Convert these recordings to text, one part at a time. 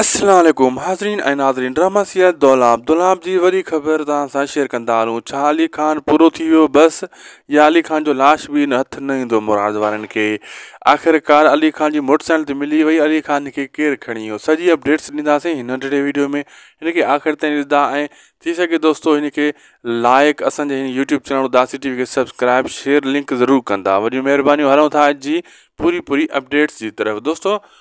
السلام عليڪم حاضرين ۽ ناظرين ڊرامه سيد دولاب دولاب جي وڏي خبر توهان سان شيئر ڪندا هلون ڇا علي خان پورو ٿي ويو بس يا علي خان جو لاش به ان هٿ نه ايندو مراد وارن کي آخر ڪار علي خان جي موٽر سائيڪل ته ملي وئي علي خان کي ڪير کڻي ويو سڄي اپڊيٽس ڏينداسين هن ننڍڙي ويڊيو ۾ هن کي آخر تائين ڏسندا ۽ ٿي سگهي دوستو هن کي لائق اسان جي هن YouTube channel Udasi T V کي سبسڪرائب شيئر لنڪ ضرور ڪندا وڏيون مهربانيون هلون ٿا اڄ جي پوري پوري اپڊيٽس جي طرف دوستو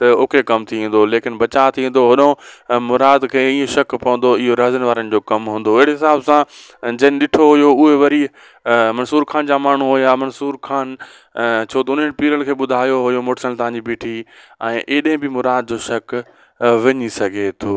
ته اوکي ڪم ٿي ايندو ليڪن بچاء ٿي ايندو هونو ۽ مراد کي ائين شڪ پوندو اهو رهزن وارن جو ڪم هوندو اهڙي حساب سان جن ڏٺو هيو اهي وري منصور خان جا ماڻهو هيا منصور خان ڇو ته انهن پيرل کي ٻڌايو هيو موٽر سائيڪل تهانجي بيٺي ۽ ايڏي به مراد جو شڪ وڃي سگهي ٿو